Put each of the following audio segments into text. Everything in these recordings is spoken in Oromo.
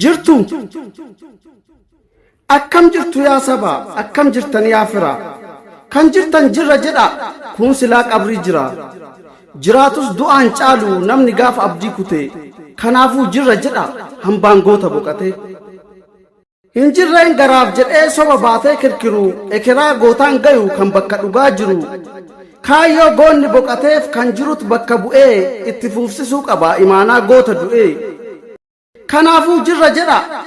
Jirtu! Akkam jirtu yaa sabaa? Akkam jirtan yaa firaa? Kan jirtan jirra jedhaa! Kuun silaa qabrii jira. Jiraatus du'aan caalu namni gaafa abdii kutee. Kanaafuu jirra jedhaa! Hambaan goota boqatee. Hin jirreen garaaf jedhee soba baatee kirkiru ekeraa gootaan gayu kan bakka dhugaa jiru. Kaayyoo goonni boqateef kan jirut bakka bu'ee itti fuufsisuu qaba imaanaa goota du'ee. Kanaafuu jirra jedhaa.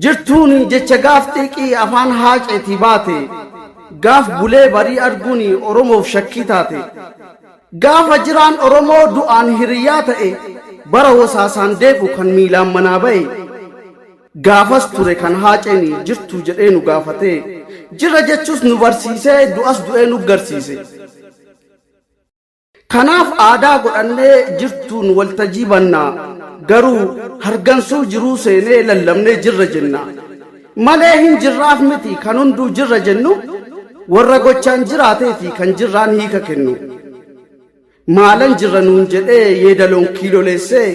Jirtuun jecha gaaf xiiqii afaan haaceetii baate, gaaf bulee barii arguun Oromoof shakkii taate. Gaafa jiraan Oromoo du'aan hiriyyaa ta'e, bara wasaasaan deebu kan miilaan manaa ba'e. Gaafas ture kan haaceen jirtuu jedhee nu gaafatee, jirra jechuus nu barsiisee du'as du'ee nuggarsiise. Kanaaf aadaa godhannee jirtuun waltajii banna, garuu hargansuu jiruu seenee lallabnee jirra jenna. Malee hin jirraaf miti kan hunduu jirra jennu, warra gochaan jiraatee fi kan jirraan hiika kennu. Maalan jirra nuun jedhee yeedaloon kiiloleessee,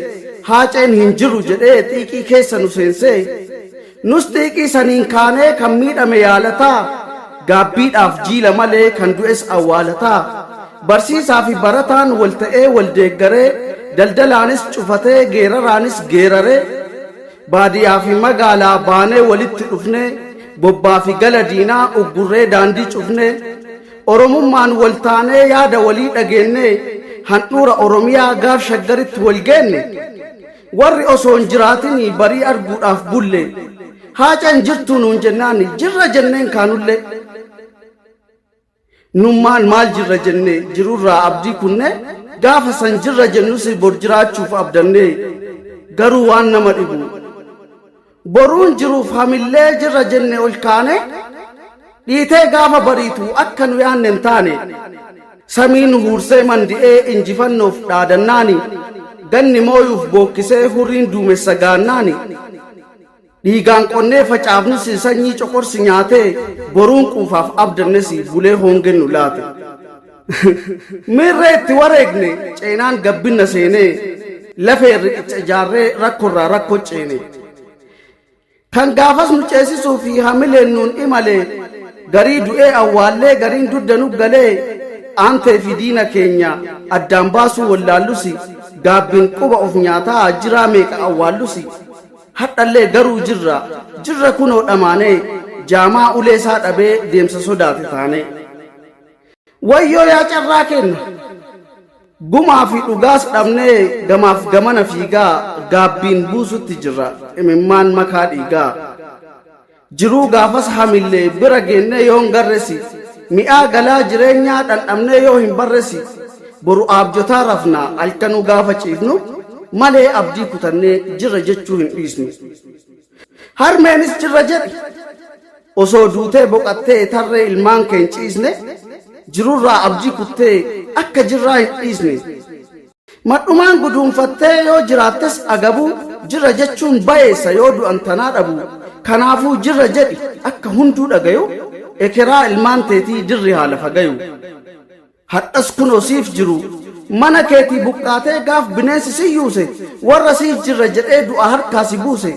haaceen hin jiru jedhee xiiqii keessa nu seensee, Nus xiiqii saniin kaanee kan miidhame yaalataa, gaabbiidhaaf jiila malee kan du'es awwaalataa. Barsiisaa fi barataan wal ta'ee wal deeggaree, daldalaanis cufatee geeraraanis geeraree, baadiyaa fi magaalaa baanee walitti dhufnee, bobbaa fi gala diinaa uggurree daandii cufnee, Oromummaan wal taanee yaada walii dhageennee, handhuura Oromiyaa gaar Shaggaritti wal geenne, Warri osoo hin jiraatin barii arguudhaaf bulle. Haaca hin jirtuu nuun jennaan jirra jenneen kaanullee. Nummaan maal jirra jenne jirurraa abdii kunne gaafa san jirra jennus bor jiraachuuf abdanne garuu waan nama dhibu. Boruun jiruuf hamillee jirra jenne ol kaane dhiitee gaafa bariitu akka nu yaanne hin taane samii nu huursee mandi'ee injifannoof dhaadannaani ganni mooyuuf bookkisee hurriin duumessa gaannaani dhiigaan qonnee facaafnus sanyii coqorsi nyaatee boruun quufaaf abdannes bulee hoongeen nu laate. Miirree itti wareegne ceenaan gabbinna seenee lafeen riqicha ijaarree rakkorraa rakko ceene. Kan gaafas nu ceesisuu fi hamileen nuun imalee garii du'ee awwaallee gariin dudda nu galee aantee fi diina keenya addaan baasuu wallaallusi gaabbiin quba of nyaataa jiraa meeqa awwaallusi hadhallee garuu jirra jirra kunoo dhamaanee jaamaa ulee isaa dhabee deemsa sodaate taanee. Wayyoo yaa carraa keenna! Gumaa fi dhugaas dhabnee gamaaf gamana fiigaa gaabbiin buusutti jirra imimmaan makaa dhiigaa. Jiruu gaafas hamillee bira geennee yoo hin garresi mi'aa galaa jireenyaa dhandhamnee yoo hin barresi boru aabjotaa rafnaa halkanuu gaafa ciifnu malee abdii kutannee jirra jechuu hin dhiisnu. Harmeenis cirra jedhi. Osoo duutee boqattee tarree ilmaan kee hin ciisne, jirurraa abdii kuttee akka jirraa hin dhiisne. Madhumaan guduunfattee yoo jiraattes agabuu, jirra jechuun bayeessa yoo du'an tanaa dhabuu. Kanaafuu jirra jedhi akka hunduu dhagayu, ekeraa ilmaan teetii dirri haa lafa gayu. Hardhas kunoo siif jiru. Mana keetii buqqaatee gaaf bineensi si yuuse warra siif jirra jedhee du'a harkaa si buuse.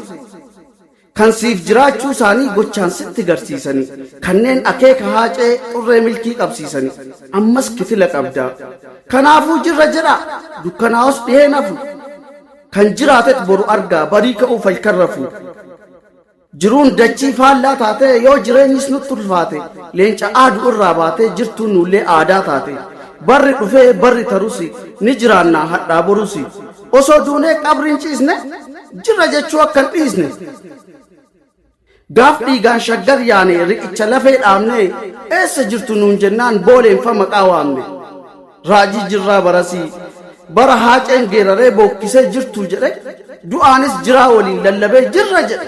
Kan siif jiraachuu isaanii gochaan sitti garsiisani. Kanneen akeeka haacee xurree milkii qabsiisani. Ammas kitila qabda. Kanaafuu jirra jedhaa. Dukkanaa'os dhiheen hafu. Kan jiraatet boru argaa barii ka'uuf halkan rafu. Jiruun dachii faallaa taatee yoo jireenyis nutti ulfaate leenca aadu irraa baatee jirtuun nuullee aadaa taate barri dhufee barri tarusi ni jiraannaa hadhaa borusi osoo duunee qabriin ciisne jirra jechuu akkan dhiisne gaaf dhiigaan shaggar yaane riqicha lafee dhaabne eessa jirtu nuun jennaan booleenfa maqaa waamne. Raajii jirraa barasii bara haaceen geeraree bookkisee jirtuu jedhe du'aanis jiraa waliin lallabee jirra jedhe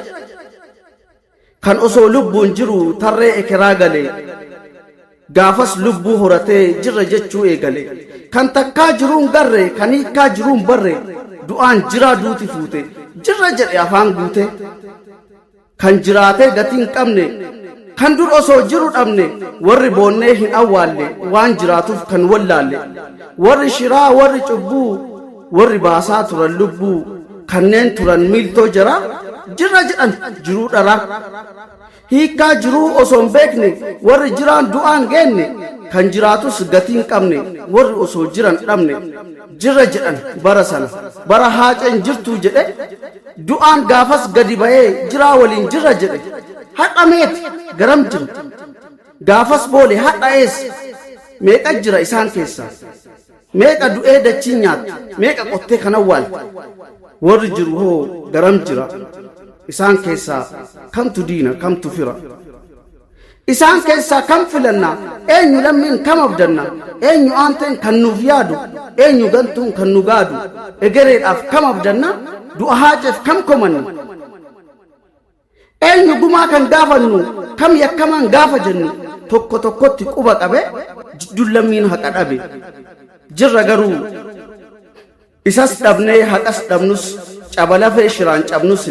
kan osoo lubbuun jiru tarree ekeraa galee gaafas lubbuu horatee jirra jechuu eegale kan takkaa jiruun garre kan hiikkaa jiruun barre du'aan jiraa duuti fuute jirra jedhe afaan guutee Kan jiraatee gatii hin qabne, kan dur osoo jiru dhabne, warri boonnee hin awwaalle, waan jiraatuf kan wallaalle, warri shiraa, warri cubbuu, warri baasaa turan lubbuu, kanneen turan miiltoo jaraa, jirra jedhan jiruu dharaa. Hiikkaa jiruu osoo hin beekne, warri jiraan du'aan geenne, kan jiraatus gatii hin qabne, warri osoo jiran dhabne. jirra jedhan bara sana bara haaceen jirtuu jedhe du'aan gaafas gadi ba'ee jiraa waliin jirra jedhe har'a meeti garam jira gaafas boole har'a eessa meeqa jira isaan keessaa meeqa du'ee dachiin nyaattu meeqa qottee kan awwaalte warri jiru hoo garam jira isaan keessaa kamtu diina kamtu fira Isaan keessaa kam filanna? Eenyu lammiin kam abdanna? Eenyu aanteen kan nuuf yaadu? Eenyu gantuun kan nu gaadu? Egereedhaaf kam abdanna? Du'a haaceef kam komanna? Eenyu gumaa kan gaafannu? Kam yakkamaan gaafa jennu? Tokko tokkotti quba qabe jidduun lammiin haqa dhabe. Jirra garuu Isas dhabnee haqas dhabnus caba lafee shiraan cabnus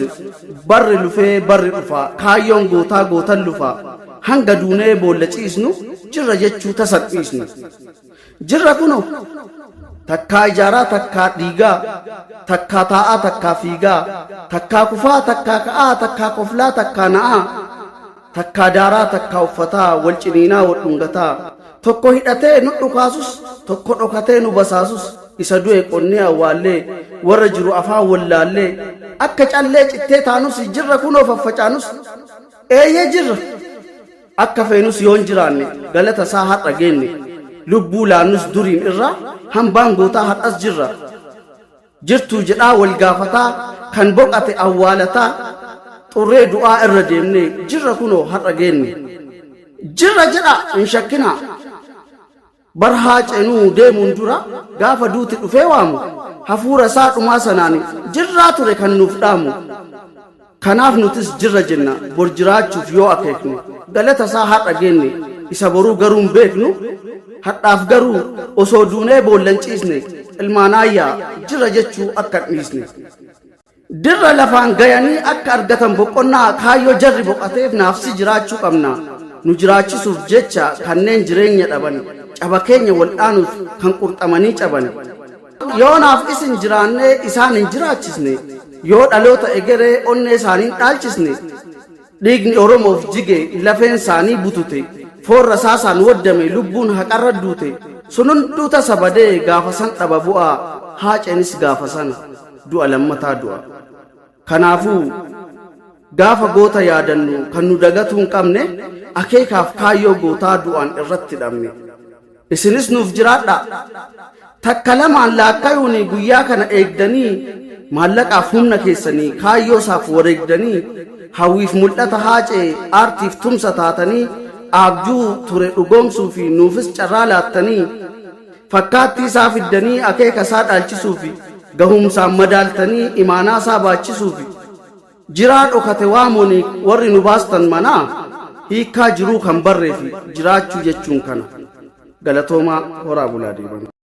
barri lufee barri dhufaa kaayyoon gootaa gootan lufaa hanga duunee boolla ciisnu jirra jechuu tasan dhiisnu. Jirra kuno takkaa ijaaraa takkaa dhiigaa takkaa taa'aa takkaa fiigaa takkaa kufaa takkaa ka'aa takkaa koflaa takkaa na'aa Takkaa daaraa takkaa uffataa wal ciniinaa wal dhungataa tokko hidhatee nu dhukaasus tokko dhokatee nu basaasus isa du'e qonnee awwaallee warra jiru afaan wallaallee akka callee cittee taanus jirra kunoo faffacaanus eeyyee jirra akka feenus yoon jiraanne galata isaa har'a geenne lubbuu laannus duriin irraa hambaan gootaa har'as jirra jirtuu jedhaa wal gaafataa kan boqate awwaalataa xurree du'aa irra deemnee jirra kunoo har'a geenne jirra jedha hin shakkinaa bar haa cenuu deemuun dura gaafa duuti dhufee waamu hafuura isaa dhumaa sanaan jirraa ture kan nuuf dhaamu Kanaaf nutis jirra jenna, bor jiraachuuf yoo akeeknu, galata isaa har'a geenne, isa boruu garuu hin beeknu, hadhaaf garuu osoo duunee boolla hin ciisne, ilmaan aayyaa jirra jechuu akka hin dhiisne. Dirra lafaan gayanii akka argatan boqonnaa kaayyoo jarri boqateef naafsi jiraachuu qabna, nu jiraachisuuf jecha kanneen jireenya dhaban, caba keenya waldhaanuuf kan qurxamanii caban, Yoo naaf isin jiraannee isaan hin jiraachisne, yoo dhaloota egeree onnee isaanii hin dhaalchisne, dhiigni Oromoof jige, lafeen isaanii butute, foon rasaasaan waddame, lubbuun haqarra duute, sun hunduu tasa badee gaafa san dhaba bu'a, Haaceenis gaafa sana du'a lammataa du'a. Kanaafuu, gaafa goota yaadannu kan nu dagatuu hin qabne akeekaaf kaayyoo gootaa du'aan irratti dhabne. Isinis nuuf jiraadhaa! Takka lamaan laakkayuun guyyaa kana eegdanii maallaqaaf humna keessanii kaayyoosaaf wareegdanii hawwiif mul'ata Haacee aartiif tumsa taatanii aabjuu ture dhugoomsuu fi nuufis carraa laattanii fakkaattii isaa fiddanii akeeka isaa dhaalchisuu fi gahumsaan madaaltanii imaanaa isaa baachisuu fi jiraa dhokate waamoni warri nu baastan manaa hiikkaa jiruu kan barree fi jiraachuu jechuun kana galatoomaa horaa bulaa deebana.